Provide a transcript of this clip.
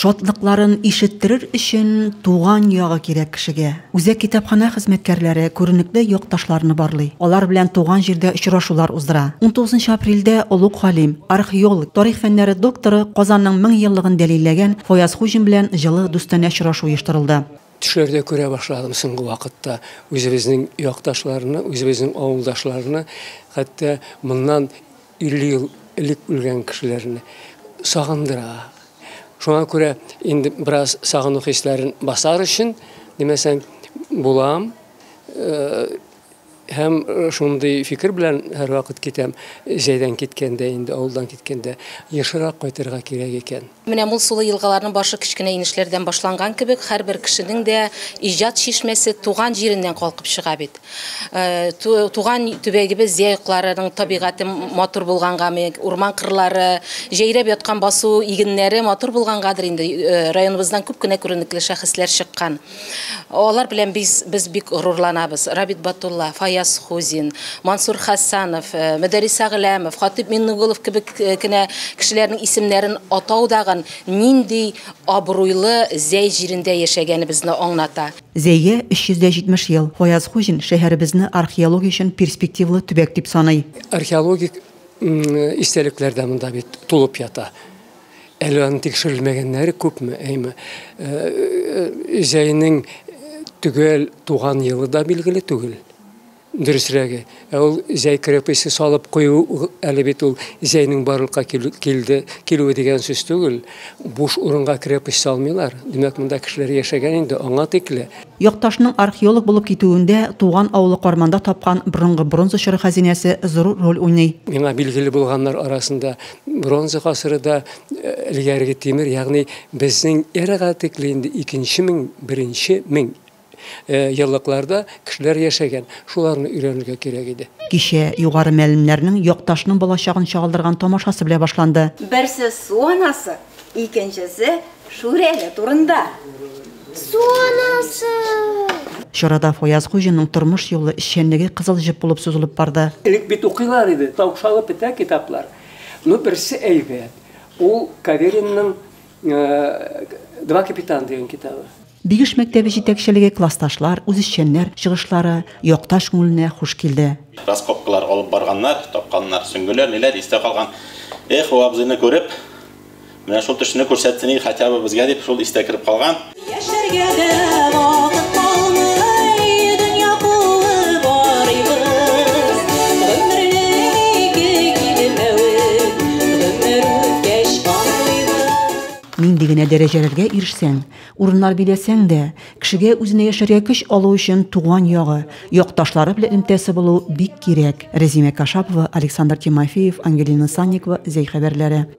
Шатлыкларын ишеттерер өчен туган ягы кирәк кешегә. Үзәк китапханә хезмәткәрләре күренекле якташларны барлый, алар белән туган җирдә очрашулар уздыра. Унтугызынчы апрельдә олуг галим, археолог, тарих фәннәре докторы, Казанның мең еллыгын дәлилләгән Фаяз Хуҗин белән җылы дустанә очрашу оештырылды. Төшләрдә күрә башладым соңгы вакытта үзебезнең якташларны, үзебезнең авылдашларны, хәтта моннан 50 ел элек үлгән кешеләрне сагындыра. Шуңа күрә инде бераз сагыну хисләрен басар өчен, димәсәң, булам һәм э, шундый фикер белән һәрвакыт китәм җәйдән киткәндә инде авылдан киткәндә ешрак кайтырга кирәк икән Менә мул сулы елгаларның башы кечкенә инешләрдән башланган кебек, һәрбер кешенең дә иҗат чишмәсе туган җиреннән калкып чыга бит. Туган төбәгебез зәй окларының табигате матур булгангамы, урман кырлары, җәйрәп яткан басу игеннәре матур булгангадыр инде, районыбыздан күп кенә күренекле шәхесләр чыккан. Алар белән без без бик горурланабыз. Рабит Батулла, Фаяз Хузин, Мансур Хәсәнов, Мөдәрриса Гөләмов, Хатыйп Миннугулов кебек кенә кешеләрнең исемнәрен атау дагын нинди абруйлы Зәй җирендә яшәгәнебезне аңлата. Зәйгә 370 ел. Фаяз Хуҗин шәһәребезне археология өчен перспективалы төбәк дип саный. Археологик истәлекләр дә монда бит тулып ята. Әле аны тикшерелмәгәннәре күпме, әйме. Җәйнең төгәл туган елы да билгеле түгел. Дөресрәге, ә ул җәй крепосте салып кую әле бит ул җәйнең барлыкка килде, килүе дигән сүз түгел. Буш урынга крепость салмыйлар. Димәк, монда кешеләр яшәгән инде аңа тикле. Якташның археолог булып китүендә туган авылы Карманда тапкан борынгы бронза чоры хәзинәсе зорур роль уйный. Миңа билгеле булганнар арасында, Бронза гасыры да элгәреге тимер, ягъни безнең эрага тикле инде икенче мең, беренче мең еллыкларда кешеләр яшәгән. Шуларны өйрәнергә кирәк иде. Кичә югары мәлемнәрнең якташның балачагын чагылдырган тамашасы белә башланды. Берсе су анасы, Икенчесе Шүрәле турында. Суанасы! Чарада Фаяз Хуҗинның тормыш юлы, эшчәнлеге кызыл җеп булып сузылып барды. Элек бит укыйлар иде, таукшалып бетә китаплар. Ну, берсе әйбәт, ул Каверинның Два капитана дигән китабы. Бигеш мәктәбе җитәкчелеге, классташлар, үзешчәннәр чыгышлары якташ күңеленә хуш килде. Раскопкалар алып барганнар, тапканнар. Сөңгеләр, ниләр истә калган. Эх, бу абзыйны күреп, менә шул төшне күрсәтсен иде хотя бы безгә дип, шул истә кереп калган. Яшәргә дә вакыт калмый, дөнья кулы барыйбыз. Гомернең ике килмәвен, гомер үткәч аңлыйбыз. Нинди генә дәрәҗәләргә ирешсәң, Урыннар биләсәң дә, кешегә үзенә яшәргә көч алу өчен туган ягы, якташлары белән элемтәсе булу бик кирәк, Рәзимә Кашапова, Александр Тимофеев, Ангелина Санникова, Зәй хәбәрләре.